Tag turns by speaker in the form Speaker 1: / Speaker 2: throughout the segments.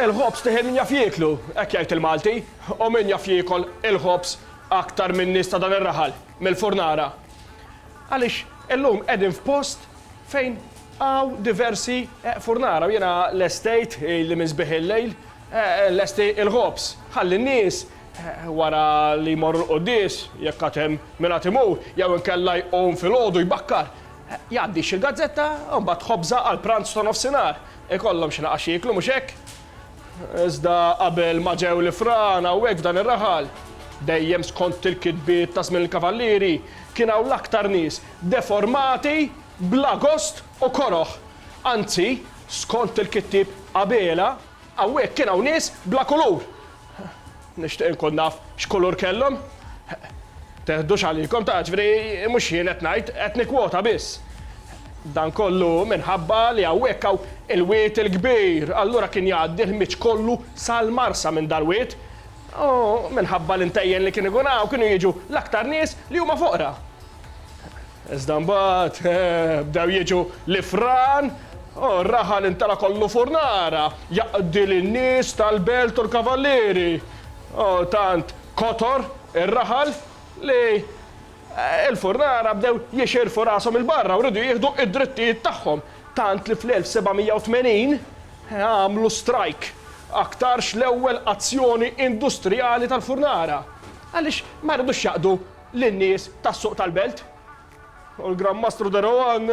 Speaker 1: Il-ħobż tih min jaf jieklu, hekk jgħid il-Malti, u min jaf jiekol il-ħobż aktar min-nies ta' dan ir-raħal, mill-furnara. Għaliex illum qegħdin f'post fejn hawn diversi furnara u jiena lestejt, ilni minn sbieħ il-lejl, nlesti l-ħobż, ħalli n-nies, wara li jmorru l-quddies, jekk għad hemm min għad imur, jew inkella jqum filgħodu jbakkar, jgħaddi xi gazzetta u mbagħad ħobża għall-pranz ta' nofsinhar, Ikollhom xi naqax jieklu, mhux hekk? Iżda qabel ma ġew l-ifran hawnhekk f'dan ir-raħal, dejjem skont il-kitbiet ta' żmien il-Kavallieri, kien hawn l-aktar nies deformati bla gost u koroh. Anzi, skont il-kittieb Abela, hawnhekk kien hawn nies bla kulur, Nixtieq inkun naf x'kulur kellhom. Teħdux għalikom, ta' ġifieri mhux jien qed ngħid, qed nikkwota biss. Dan kollu minħabba li hawnhekk hawn il-wied il-kbir, allura kien jgħaddi l-ħmieġ kollu sal-Marsa minn dal-wied. U minħabba l-intejjen li kien ikun hawn kienu jiġu l-aktar nies li huma foqra. Iżda mbagħad bdew jiġu l-ifran u r-raħal intala' kollu furnara, jaqdi lin-nies tal-belt u l-kavallieri. U tant kotor ir-raħal li l-furnara bdew jixirfu rashom 'il barra u riedu jieħdu d-drittijiet tagħhom, tant li fl-1780 għamlu strajk, aktarx l-ewwel azzjoni industrijali tal-furnara, għaliex ma ridux jaqdu lin-nies tas-suq tal-belt. U l-Gran Mastru De Rohan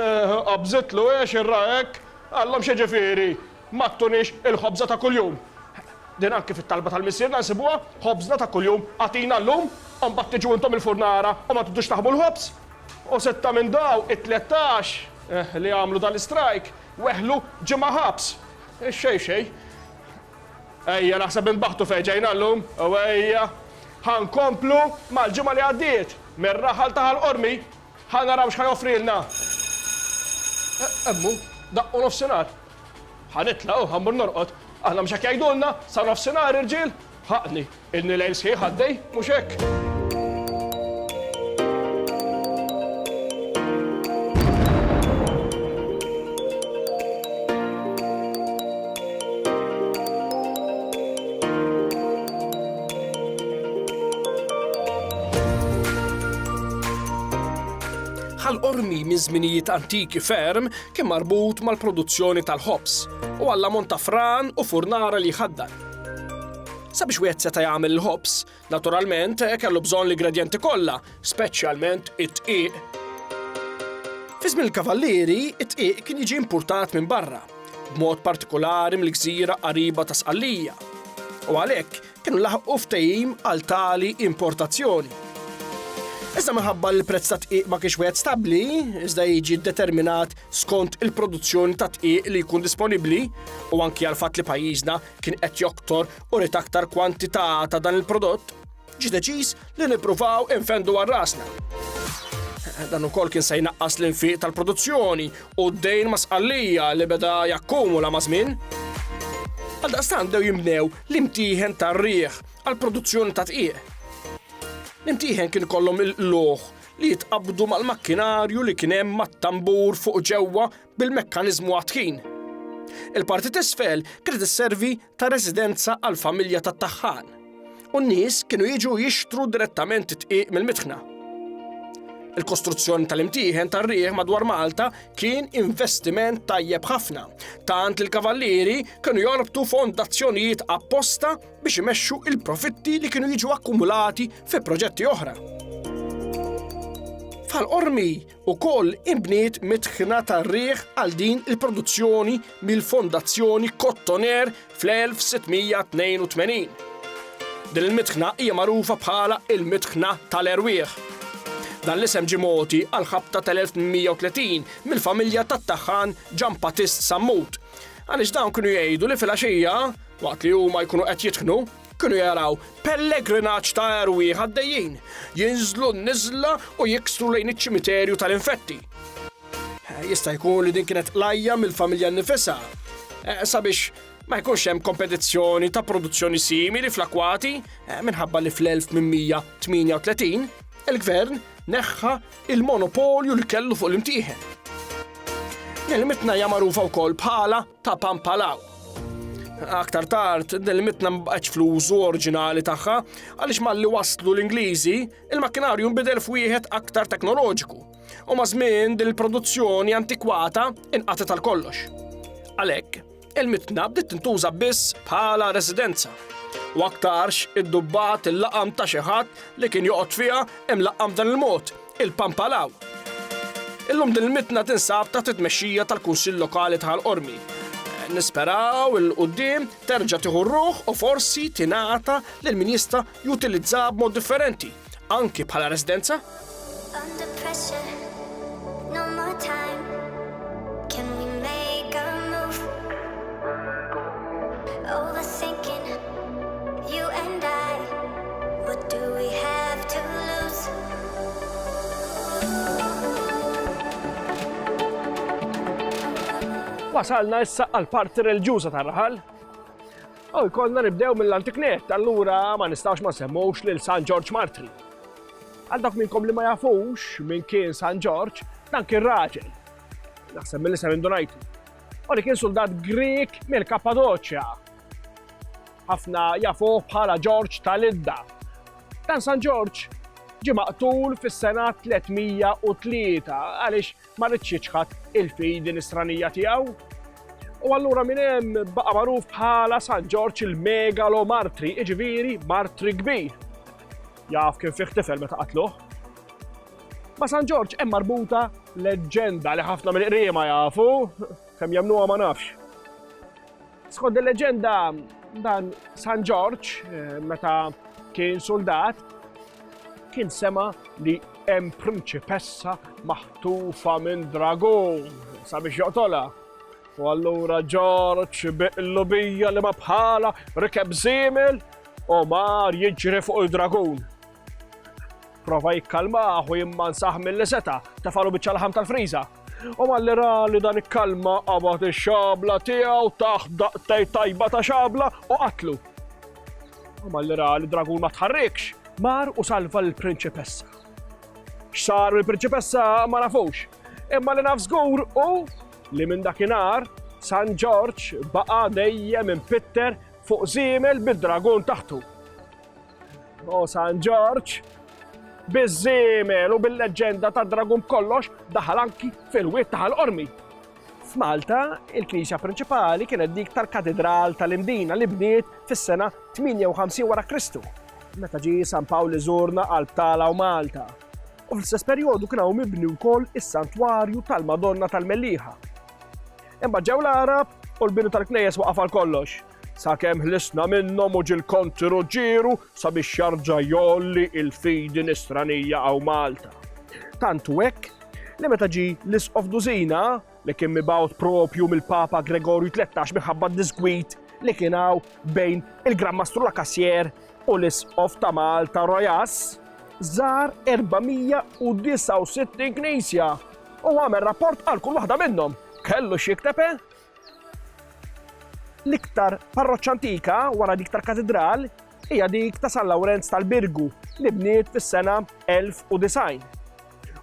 Speaker 1: qabżitlu għiex irrah hekk, qalhom xi ġifieri, ma ttunix il-ħobża ta' kuljum. Din anki fit-talba tal-Missierna nsibuha, Ħobżna ta' kuljum agħtina llum, u mbagħad tiġu intom il-furnara u ma tridux taħbu l-ħobż. U sitta minn dawk it-tlettax li għamlu dal-istrajk weħlu ġimgħa ħabs. Xejn xejn. Ejja naħseb minn baħtu fejn ġejna llum u ejja ħa nkomplu mal-ġimgħa li għaddiet mir-raħal ta' Ħal Qormi. Ħa naraw x'ħa joffrilna. Hemm hu, daqqu nofsinhar. Ħa nitlaq u ħa mmur norqod. Aħna mhux hekk jgħidulna, sa nofsinhar irġiel? Ħaqni, Ilni lejl sħiħ għaddej, mhux hekk? Ħal-qormi minn żminijiet antiki ferm kien marbut mal-produzzjoni tal-ħobż u għall-ammont ta' fran u furnara li jħaddar. Sabiex wieħed seta' jagħmel il-ħobż, naturalment kellu bżonn l-igredjenti kollha, speċjalment it-tqiq. Fi żmien il-Kavallieri, it-tqiq kien jiġi importat minn barra, b'mod partikolari mill-gżira qariba ta' Sqallija. U għalhekk kienu laħqu ftehim għal tali importazzjoni. Iżda minħabba li l-prezz ta' tqiq ma kienx wieħed stabbli, iżda jiġi determinat skont il-produzzjoni ta' tqiq li jkun disponibbli u anki għal fatt li pajjiżna kien qed joktor u rid aktar kwantità ta' dan il-prodott, ġi deċiż li nippruvaw infendu għal rasna. Dan ukoll kien se jnaqqas l-infiq tal-produzzjoni u d-dejn ma' sqallija li beda jakkumula ma' żmien. Għal daqstan dew jimnew l-imtieħen tar-riħ għal produzzjoni ta' tqieq. L-imtieħen kien kollhom il-loħ li jitqabdu mal-makkinarju li kien hemm mat-tambur fuq ġewwa bil-mekkaniżmu għat-tħin. Il-parti t'isfel kienet isservi ta' residenza għall-familja tat-taħħan u n-nies kienu jiġu jixtru direttament it-tqiq mill-mitħna. Il-kostruzzjoni tal-imtieħen tar-riħ madwar Malta kien investiment tajjeb ħafna, tant li l-kavallieri kienu jorbtu fondazzjonijiet apposta biex imexxu il-profitti li kienu jiġu akkumulati fi proġetti oħra. Fal-qormi Ukoll inbniet mitħna tar-riħ għal din il-produzzjoni mill-Fondazzjoni Cotoner fl-1682. Din il-mitħna hija magħrufa bħala il-mitħna tal-erwieħ. Dan l-isem ġie mogħti għal ħabta tal-1830 mill-familja tat-taħħan Ġan Patist Sammut. Għaliex dawn kienu jgħidu li fil-għaxija, waqt li huma jkunu qed jitħnu, Kienu jaraw pellegrinaġġ ta' erwieħ għaddejjin, jinżlu n-niżla u jiksru lejn iċ-ċimiterju tal-infetti. Jista' jkun li din kienet lajja mill-familja nnifisha eh, sabiex ma jkunx hemm kompetizzjoni ta' produzzjoni simili fl-akwati eh, minħabba li fl-1838 il-gvern neħħa il-monopolju li kellu fuq l-imtieħen. Kelmitna hija magħrufa wkoll bħala ta' Pampalaw. Aktar tard, din il-mitna ma baqgħetx fl-użu oriġinali tagħha għaliex malli waslu l-Ingliżi, il-makkinarju nbidel f'wieħed aktar teknoloġiku. U ma' żmien din il-produzzjoni antikwata inqatet għal kollox. Għalhekk, il-mitna bdiet tintuża biss bħala residenza. U aktarx id-dubbat il-laqam ta' xi ħadd li kien joqgħod fiha hemm laqam dan il-mod Il-Pampalaw. Illum din il-mitna tinsab taħt it-tmexxija tal-Kunsill Lokali ta' Ħal Qormi. Nisperaw il quddiem terġa' tieħu r-ruħ u forsi tingħata lil min jista' jutilizzaha b'mod differenti, anki bħala residenza. Under pressure. Wasalna issa għal parti relġuża tar-raħal. U jkollna nibdew mill-antiknet, allura ma nistax ma semmux lil San Ġorġ Martri. Għal dak minnkom li ma jafux minn kien San Ġorġ, dan kien raġel. Naħseb mill-isem indunajtu. U li kien soldat Grek mill-Kappadoċja. Ħafna jafuh bħala Ġorġ ta' Lidda. Dan San Ġorġ ġie maqtul fis-sena 303 għaliex ma ridx jiċħad il-fidi nisranija tiegħu. U allura minn hemm baqa' magħruf bħala San Ġorġ il-megalo martri, iġifieri martri kbir. Jaf kien fih tifel meta qatluh. Ma' San Ġorġ hemm marbuta leġġenda li ħafna mill-qriema jafu, kemm jemnuha ma nafx. Skont il-leġenda dan San Ġorġ eh, meta kien soldat kien sema li hemm prinċipessa maħtufa minn dragon sabiex joqtola. U allura Ġorġ biqlu bija li ma bħala rikeb żiemel u mar jiġri fuq il-dragon. Prova jikkalmah u jimmansaħ mill-li seta, tefalu biċċa laħam tal-friża. U malli ra li dan ikkalma qabad ix-xabla tiegħu taħt daqtej tajba ta' xabla u qatlu. U malli ra li dragun ma tħarrikx, mar u salva l-prinċipessa. X'sar mill-prinċipessa ma nafux. Imma li naf żgur u li minn dakinhar San Ġorġ baqa' dejjem impitter fuq żiemel bid-dragun taħtu. O San Ġorġ, biż-żiemel u bil-leġġenda ta' dragun b'kollox daħal anki fil-wied ta' l-qormi. F'Malta, il-knisja prinċipali kienet dik tal-Katidral tal-Imdina li bniet fis-sena 58 wara Kristu, meta ġie San Pawl iżurna qalb Tala u Malta. U fl-istess perjodu kien hawn mibni wkoll is-Santwarju tal-Madonna tal-Mellieħa. Imbagħad ġew l-Għarab u l-bini tal-knejjes waqaf għal kollox. Sakemm ħlisna minnhom u ġil kontiru ġieru sabiex jarġa' jolli il-fidi nisranija għaw Malta. Tantu hekk li meta ġi l-Isqof Dużina li kien mibgħut propju mill-Papa Gregorju 13 minħabba d-disgwid li kien hawn bejn il-Gran Mastru Lakassier u l-Isqof ta' Malta Rojas, żar 469 knisja u għamel rapport għal kull waħda minnhom. Kellu x'jikteb eh? L-iktar parroċċa antika wara dik tal-Katidral hija dik ta' San Lawrenz tal-Birgu li bniet fis-sena 1090.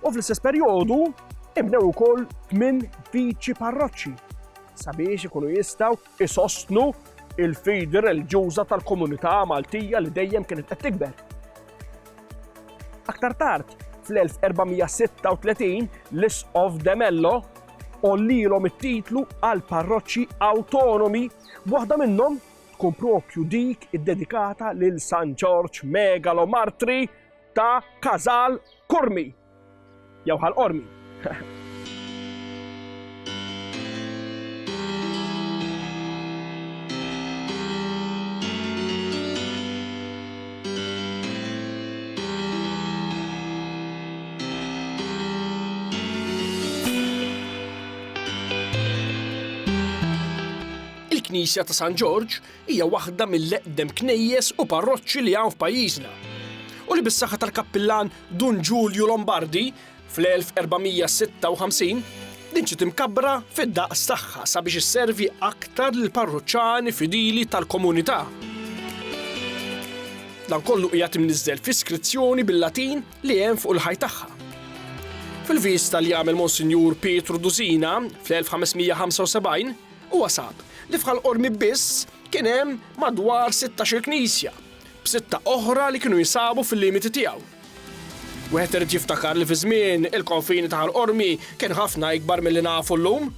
Speaker 1: U fl-istess perjodu inbnew ukoll tmien viċi parroċċi sabiex ikunu jistgħu isostnu il-fidi reliġjuża tal-komunità Maltija li dejjem kienet qed tikber. Aktar tard, fl-1436, l-Isqof de Mello ollilhom it-titlu għal parroċċi awtonomi, waħda minnhom tkun propju dik iddedikata lil San Ġorġ Megalomartri ta' Kazal Kurmi. Jew Ħal Qormi. il-Knisja ta' San Ġorġ hija waħda mill-eqdem knejjes u parroċċi li hawn f'pajjiżna. U li bis-saħħa tal-kappillan Dun Ġulju Lombardi, fl-1456, din ġiet imkabbra fid-daqs tagħha sabiex isservi aktar lill-parruċċani fidili tal-komunità. Dan kollu qiegħed imniżżel fi skrizzjoni bil-Latin li hemm fuq il-ħaj tagħha. Fil-vista li għamel Monsinjur Pietru Duzina fl-1575, huwa sab li f'ħal-qormi biss kien hemm madwar 16 knisja b'sitta oħra li kienu jinsabu fil-limiti tiegħu. Wieħed irid jiftakar li fi żmien il-konfini ta' Ħal Qormi kien ħafna ikbar milli nafu llum.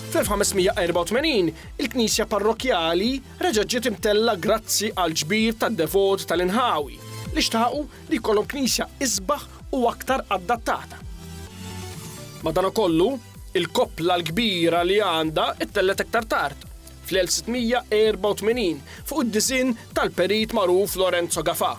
Speaker 1: Fl-1584, il-knisja parrokkjali reġgħet ġiet imtellgħa grazzi għall-ġbir tad-devoti tal-inħawi li xtaqu li jkollhom knisja isbaħ u aktar adattata. Madankollu, il-koppla l-kbira li għandha ttellgħet iktar tard, fl-1684 fuq id-disinn tal-perit magħruf Lorenzo Gafà.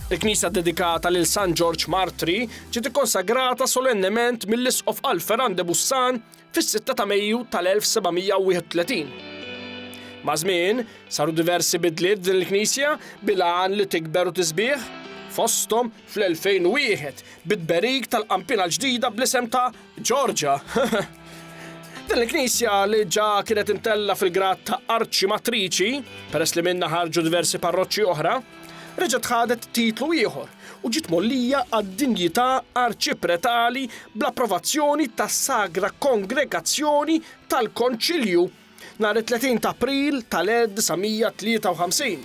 Speaker 1: Il-knisja ddedikata lil San Ġorġ Martri ġiet ikkonsagrata solennement mill-Isqof Alpheran de Bussan fis-sitta ta' Mejju tal-1731. Maż-żmien, saru diversi bidliet f'din il-knisja bil-għan li tikber u tisbiħ, fosthom fl-2001 bit-tberik tal-qampina l-ġdida bl-isem ta' Georgia? Din il-knisja li ġa kienet intella fil-grad ta' arċimatriċi, peress li minna ħarġu diversi parroċċi oħra, reġgħet ħadet titlu ieħor u ġiet mollija għad-dinjità arċipretali bl-approvazzjoni tas-Sagra Kongregazzjoni tal-Konċilju Nhar it-30 t'April tal-1953.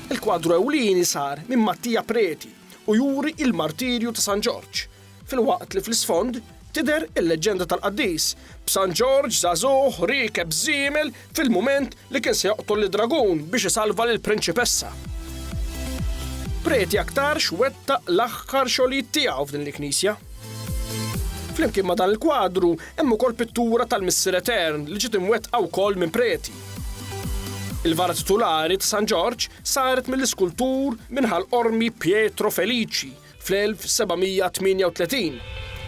Speaker 1: Il-kwadru ewlieni sar minn Mattia Preti u juri il-martirju ta' San Ġorġ, filwaqt li fl-isfond tidher il-leġġenda tal-qaddis b'San Ġorġ żagħżugħ riekeb żiemel fil-mument li kien se joqtol lid-dragun biex isalva lill-prinċipessa. Preti aktarx wettaq l-aħħar xogħlijiet tiegħu f'din il-knisja. Flimkien ma' dan il-kwadru Hemm ukoll pittura tal-Missier Etern li ġiet imwettqa wkoll minn preti. Il-vara titulari ta' San Ġorġ saret mill-iskultur minn Ħal Qormi Pietro Felici fl-1738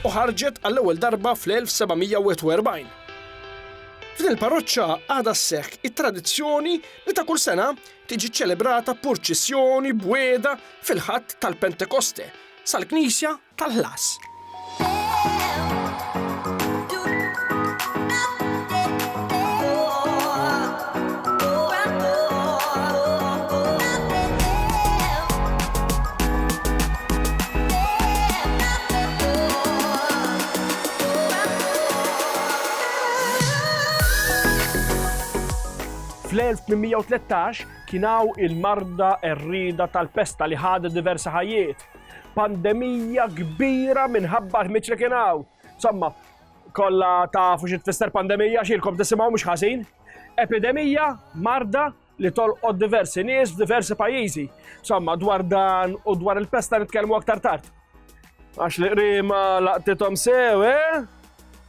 Speaker 1: u ħarġet għall-ewwel darba fl-1741. F'din il-parroċċa għadha sseħħ it-tradizzjoni li ta' kull sena tiġi ċċelebrata purċissjoni b'wiegħda fil-Ħadd tal-Pentekoste sal-knisja tal-ħlas. Fl-1813 kien hawn il-marda qerrieda tal-pesta li ħadet diversi ħajjiet, pandemija kbira minħabba l-ħmiġ li kien hawn. Somma, kollha tafu xi tfisser pandemija xilkom tisimgħu mhux ħażin. Epidemija marda li tolqod diversi nies f'diversi pajjiżi. Somma, dwar dan u dwar il-pesta nitkellmu aktar tard. Għax li qrima laqtithom sew, eh?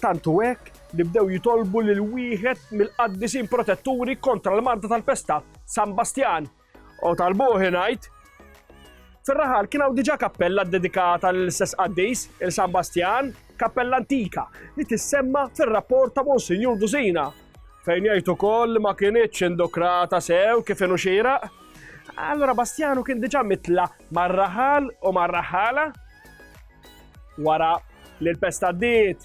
Speaker 1: Tantu hekk li bdew jitolbu lil wieħed mill-qaddisin protetturi kontra l-marda tal-pesta, San Bastjan, U tal-buħi ngħid, fir-raħal kien hawn diġà kappella ddedikata l-istess qaddis il San Bastjan, kappella antika li tissemma fir-rapport ta' Monsinjur Dusina fejn jgħid ukoll ma kinitx indokrata sew kif inhu xieraq. Allora Bastjanu kien diġà mitla mar-raħal u mar-raħala wara li l-pesta ddiet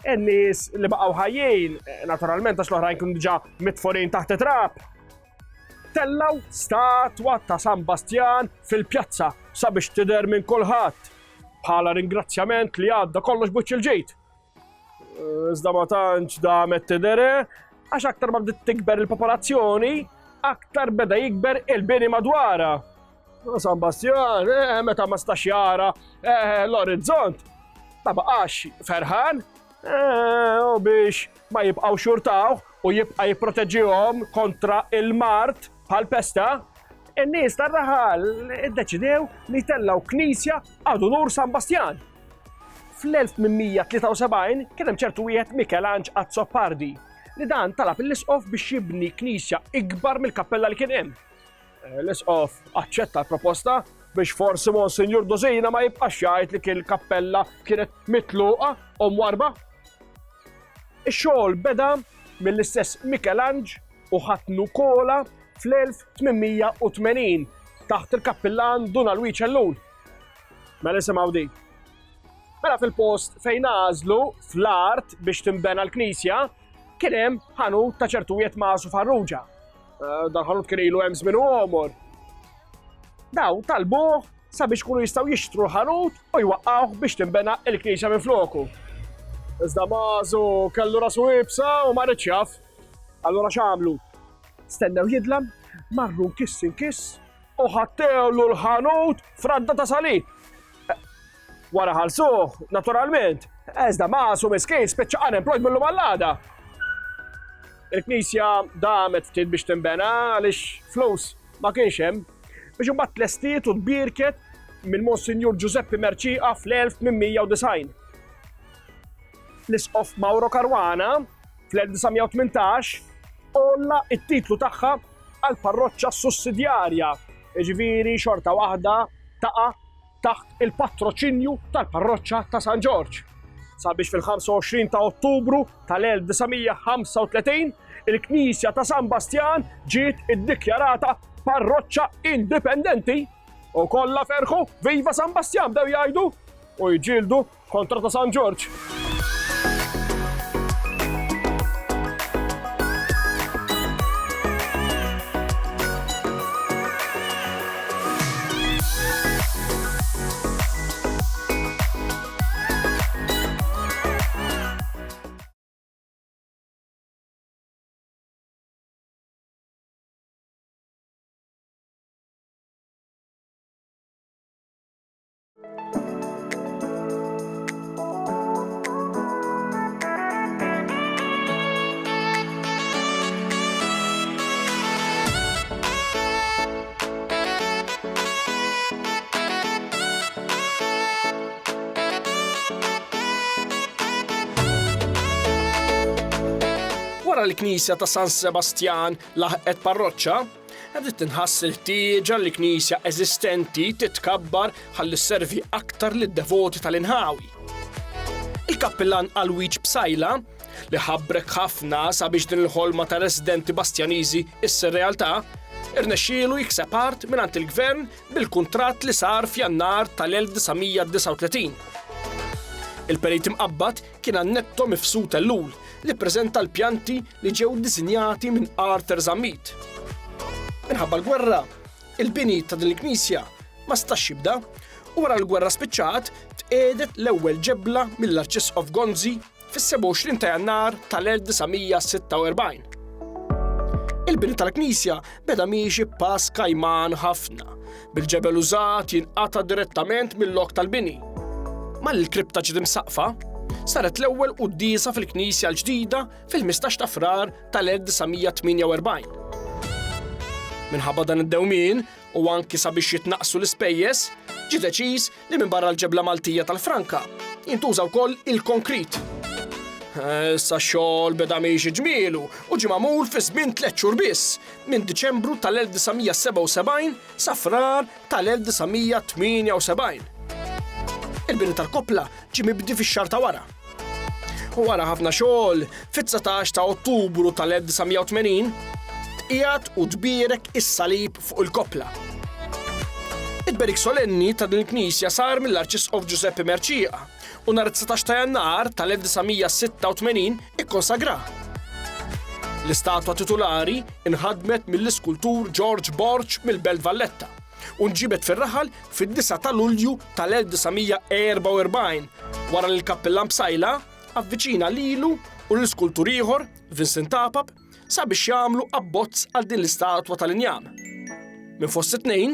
Speaker 1: in-nies li baqgħu ħajjin, naturalment għax l-oħrajn kienu diġà mitforin taħt trap, Tellgħu statwa ta' San Bastjan fil-pjazza sabiex tidher minn kulħadd bħala ringrazzjament li għadda kollox buċċ il-ġejt. Iżda ma tantx damet tidere, għax aktar ma bdiet tikber il-popolazzjoni, aktar beda jikber il-bini madwara. San Bastjan, eh, meta ma stax jara eh, l-orizzont, ma baqax ferħan, eh, u biex ma jibqaw xurtaw u jibqa jipproteġihom kontra il-mart bħal pesta, in-nies tar-raħal iddeċidew li tellaw knisja għad unur San Bastjan. Fl-1873 kien hemm ċertu wieħed Mikelanġ Azzopardi li dan talab l-isqof biex jibni knisja ikbar mill-kappella li kien hemm. L-Isqof aċċetta l-proposta biex forsi Monsinjur Dusina ma jibqax jgħid li kien il-kappella kienet mitluqa u mwarba. Ix-xogħol beda mill-istess Mikelanġ u ħatnu Kola fl-1880 taħt il-kappillan Dun Alwiċ Ellul. Mela nisimgħu din. Mela fil-post fejn għażlu fl-art biex timbena l-knisja kien hemm ħanut ta' ċertujiet masu farruġa. Eh, dan ħanut kien ilu hemm żmien għomor. Daw talbuh sabiex kunu jistgħu jixtru l-ħanut u jwaqqgħuh biex tinbena il-knisja minn floku. Iżda mażu kellu rasu ibsa u ma rridx jaf. Allura x'għamlu? Stennew jidlam, marru kiss in kiss u ħattewlu l-ħanut fradda ta' salib. Wara ħalsuh, naturalment, eżda masu miskin spiċċa unemployed mill-lum għall-għada. Il-knisja damet ftit biex timbena għaliex flus ma kienx hemm biex imbagħad tlestiet u tbirket minn Monsinjur Giuseppe Merċiqa fl-1890. L-isqof Mauro Caruana fl-1918 olla it-titlu tagħha għall-parroċċa sussidjarja, jiġifieri xorta waħda taqa' taħt il-patroċinju tal-parroċċa ta' San Ġorġ. Sabiex fil-25 ta' Ottubru tal-1935 il-Knisja ta' San Bastjan ġiet iddikjarata parroċċa indipendenti u kollha ferħu viva San Bastjan bdew jgħidu u jġildu Kontra ta' San Ġorġ. Wara li l-knisja ta' San Sebastjan laħqet parroċċa, Bdiet tinħass il-ħtieġa li knisja eżistenti titkabbar ħalli sservi aktar lid-devoti tal-inħawi. Il-kappillan Alwiġ Psaila, li ħabrek ħafna sabiex din il-ħolma ta' residenti Bastjaniżi issir realtà, irnexxielu jikseb art mingħand il-Gvern bil-kuntratt li sar f'Jannar tal-1939. Il-Perit Imqabbad Kien Annetto Mifsud Ellul li ppreżenta l-pjanti li ġew disinjati minn Arthur Zammit. Minħabba l-gwerra, il-bini ta' din il-knisja ma stax jibda u wara l-gwerra spiċċat tqedet l-ewwel ġebla mill-Arċisqof Gonzi fis-27 ta' Jannar tal-1946. Il-bini tal-knisja beda miexi b'pass kajman ħafna, bil-ġebel użat jinqata' direttament mill-lok tal-bini. Ma l kripta ġiet imsaqfa, saret l-ewwel qudiesa fil-Knisja l-ġdida fil-15 ta' Frar tal-1948. Minħabba dan id-dewmien u anki sabiex jitnaqsu l-ispejjeż, ġie deċiż li minbarra l-ġebla Maltija tal-Franka, jintuża wkoll il-konkrit. Issa x-xogħol beda miexi ġmielu u ġie magħmul fi żmien tliet xhur biss, minn Diċembru tal-1977 sa Frar tal-1978. Il-bini tal-koppla ġie mibdi fix-xahar ta' wara. U wara ħafna xogħol, fit-19 ta' Ottubru tal-1980, tqiegħed u tbierek is-salib fuq il-koppla. Il-berik solenni ta' din il-knisja sar mill-Arċisqof Ġużeppi Merċieqa u nhar 19 ta' Jannar tal-1986 ikkonsagra. L-istatwa titulari inħadmet mill-iskultur George Borg mill-Belt Valletta. u nġibed fir-raħal fid-9 ta' Lulju tal-1944 wara li l-Kappillan Psaila avviċina lilu u lil skultur ieħor, Vincent Tapap, sabiex jagħmlu abbozz għal din l-istatwa tal-injam. Minn fost it-tnejn,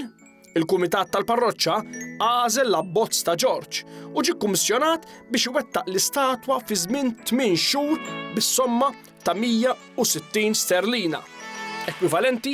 Speaker 1: il-Kumitat tal-Parroċċa għażel l-abbozz ta' Ġorġ u ġie kummissjonat biex iwettaq l-istatwa fi żmien 8 xhur bis-somma ta' 160 sterlina ekwivalenti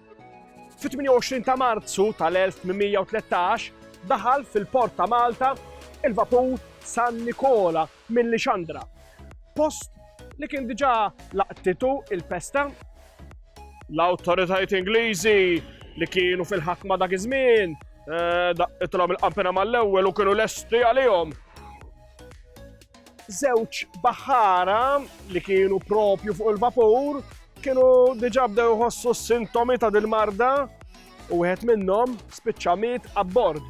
Speaker 1: Fit-28 ta' Marzu tal-1813 daħal fil-port ta' Malta il-vapur San Nikola minn Lixandra, post li kien diġà laqtitu il-pesta. L-awtoritajiet Ingliżi li kienu fil-ħakma dak iż-żmien eh, daqqithom il-qampina mal-ewwel u kienu lesti għalihom. Żewġ baħħara li kienu propju fuq il-vapur kienu diġà bdew jħossu s-sintomi ta' dil-marda u wieħed minnhom spiċċa miet abbord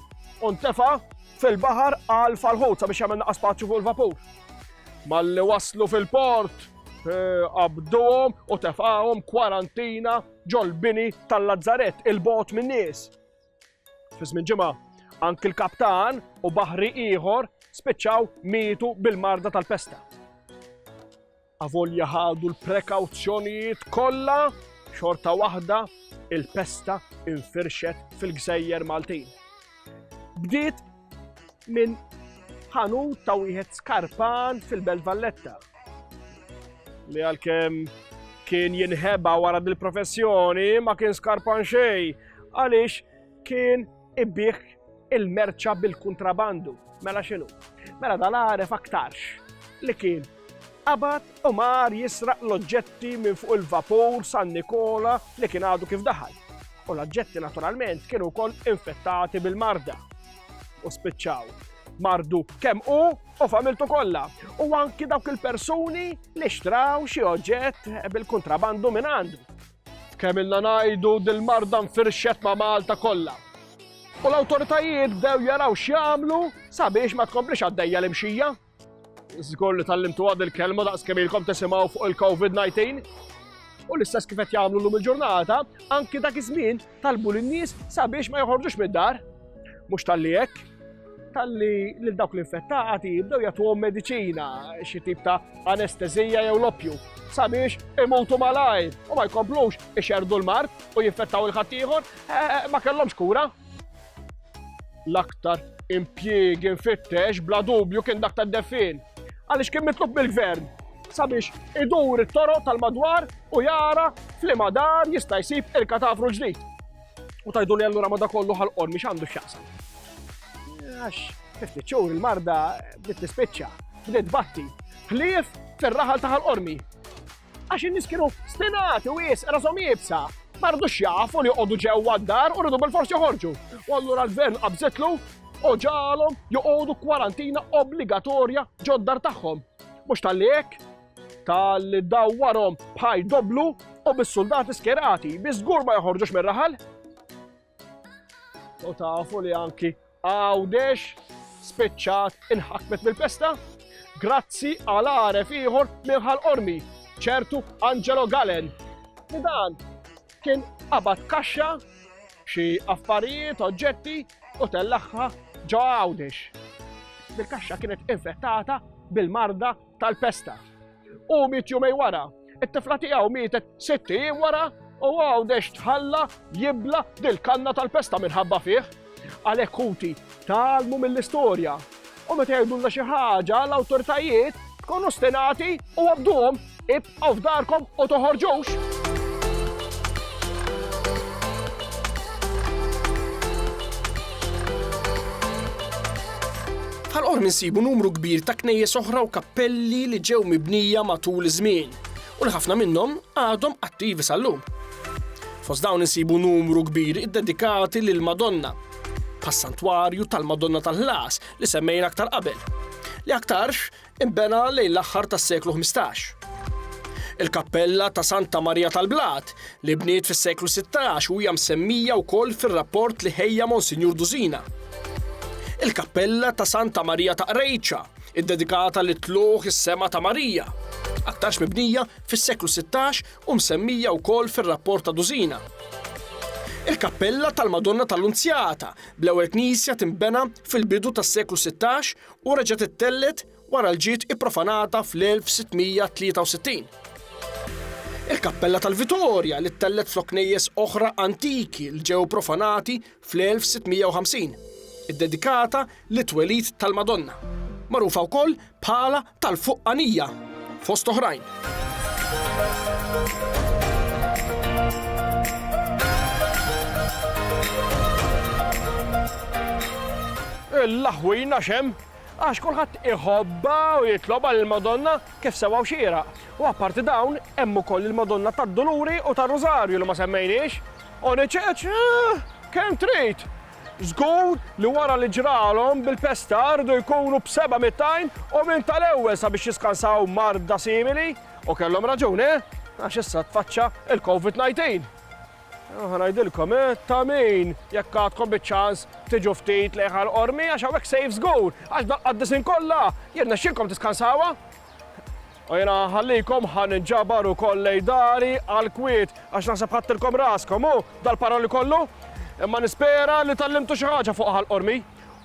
Speaker 1: u ntefa' fil-baħar għal falħut sabiex jagħmel naqas spazju fuq il-vapur. Malli waslu fil-port, eh, qabduhom u tefgħahom kwarantina ġol-bini tal-Lazzaret il-bot min-nies. Fi żmien ġimgħa, anki l-kaptan u baħri ieħor spiċċaw mietu bil-marda tal-pesta. Avolja ħadu l-prekawzjonijiet kollha xorta waħda il-pesta infirxet fil-gżejjer Maltin. Bdiet minn ħanu ta' wieħed skarpan fil-Belt Valletta. Li għalkemm kien jinħeba wara dil-professjoni ma kien skarpan xejn għaliex kien ibbieħ il-merċa bil-kontrabandu. Mela xinu? Mela dan għaref aktarx li kien qabad u mar jisraq l-oġġetti minn fuq il-vapur San Nikola li kien għadu kif daħal. U l-oġġetti naturalment kienu wkoll infettati bil-marda. U spiċċaw mardu kemm u u familtu kollha. U anki dawk il-persuni li xtraw xi oġġett bil-kontrabandu minn għandu. Kemm ilna ngħidu, dil-marda nfirxet ma' Malta kollha. U l-awtoritajiet bdew jaraw x'jagħmlu sabiex ma tkomplix għaddejja l-imxija. Żgur li tallimtuha dil-kelma daqs kemm ilkom tisimgħu fuq il-COVID-19. U l-istess kif qed jagħmlu llum il-ġurnata, anki dak iż-żmien Talbu lin-nies sabiex ma joħorġux mid-dar. Mhux talli hekk, talli lil dawk l-infettati jibdew jagħtuhom mediċina, xi tip ta' anestezija jew l-oppju, sabiex imutu malajr u ma jkomplux ixerdu l-mart u jinfettaw il-ħaddieħor, eh, eh, ma kellhomx kura. L-aktar impjiegi mfittex bla dubju kien dak tad-deffin. Għaliex kien mitlub mill-gvern sabiex idur it-toroq tal-madwar u jara flima dar jista' jsib il-katavru ġdid. U tajdu li allura ma da kollu ħal-qor miex għandu x'jaqsam. Għax, fifti ċur il-marda bdiet tispiċċa, bdiet batti, ħlief fir-raħal ta' ħal-qormi. Għax in-nies kienu stinati u wisq rashom iebsa, ma ridux jafu li joqogħdu ġewwa d-dar u rridu bilfors joħorġu. U allura l-gvern qabżitlu u ġalhom joqogħdu kwarantina obbligatorja ġod-dar tagħhom. Mhux tal-li hekk, tal-li dawwarhom bħaj doblu u bis-suldati skerati, bi żgur ma joħorġux mir-raħal. U tafu li anki għawdex spiċċat inħakmet mill-pesta? Grazzi għal għaref ieħor minħal ormi, ċertu Angelo Galen. Li dan kien qabad kaxxa xi affarijiet, oġġetti u tellaħħa ġo għawdex. Bil-kaxxa kienet infettata bil-marda tal-pesta. U miet jumej wara, it-tifla tiegħu mietet sitt ijiem wara u għaw dex tħalla jibla dil-kanna tal-pesta minħabba fih. Għalhekk kuti talmu mill-istorja. U meta jgħidulna xi ħaġa l-awtoritajiet tkunu stinati u għabduhom ib Bqgħu f'darkom u toħorġux! Bħal qormi nsibu numru kbir ta' knejjes oħra u kappelli li ġew mibnija matul iż-żmien u li ħafna minnhom għadhom attivi sal-lum. Fost dawn insibu numru kbir iddedikati lil Madonna, bħas-santwarju tal-Madonna tal-Ħlas li semmejna aktar qabel, li aktarx Inbena lejn l-aħħar tas-seklu ħmistax. Il-kappella ta' Santa Marija tal-Blat, li bniet fis-seklu 16 u hija msemmija wkoll fir-rapport li ħejja Monsinjur Dużina. Il-kappella ta' Santa Marija ta' Qrejċa, iddedikata li tluħ is-sema ta' Marija, aktarx mibnija fis-seklu 16 u msemmija wkoll fir-rapport ta' Dużina il-kappella tal-Madonna tal-Unzjata, bl-ewwel knisja timbena fil-bidu tas-seklu 16 u reġgħet ittellgħet wara l ġiet ipprofanata fl-1663. Il-kappella tal-Vitorja li ttellgħet flok knejjes oħra antiki li ġew profanati fl-1650, iddedikata lit-twelid tal-Madonna, magħrufa wkoll bħala tal-Fuqqanija. fost oħrajn. Il-laħwin għax hemm, għax kulħadd iħobbha u jitlob għal il-Madonna kif sewwa u xieraq. U apparti dawn, hemm ukoll il-Madonna tad-Duluri u tar-Rużarju li ma semmejniex. Oniċeċ, eh, kemm trid! Żgur li wara li ġralhom bil-pesta riedu jkunu b'seba' mitt għajn u minn tal-ewwel sabiex jiskansaw marda simili. U kellhom raġun, eh? Għax issa tfaċċa il-Covid 19. U ħa ngħidilkom, eh, ta' min jekk għadkom biċ-ċans tiġu ftit lejh għall-Qormi għax hawnhekk safe żgur, għax bl-Qaddisin kollha jirnexxilkom tiskansawha. U jiena nħallikom ħa ninġabar ukoll lejn dari għall-kwiet, għax naħseb ħadtilkom raskom, hu, dal-paroli kollu? Imma nispera li tgħallimtu xi ħaġa fuq Ħal Qormi.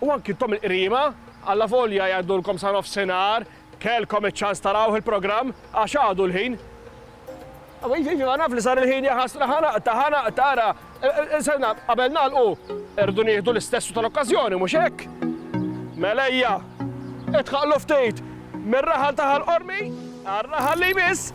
Speaker 1: U anki intom il-qriema, allavolja jgħidulkom sa nofsinhar, kellkom iċ-ċans tarawh il-programm, għax għadu l-ħin. Iva naf li sar il-ħin ja ħasra ħa naqta' ħa naqta' ara sena qabel nagħlqu irdu nieħdu l-istessu tal-okkażjoni mhux hekk? Mela ejja idħaqlu ftit mir-raħal ta' Ħal Qormi għar-raħal li jmiss.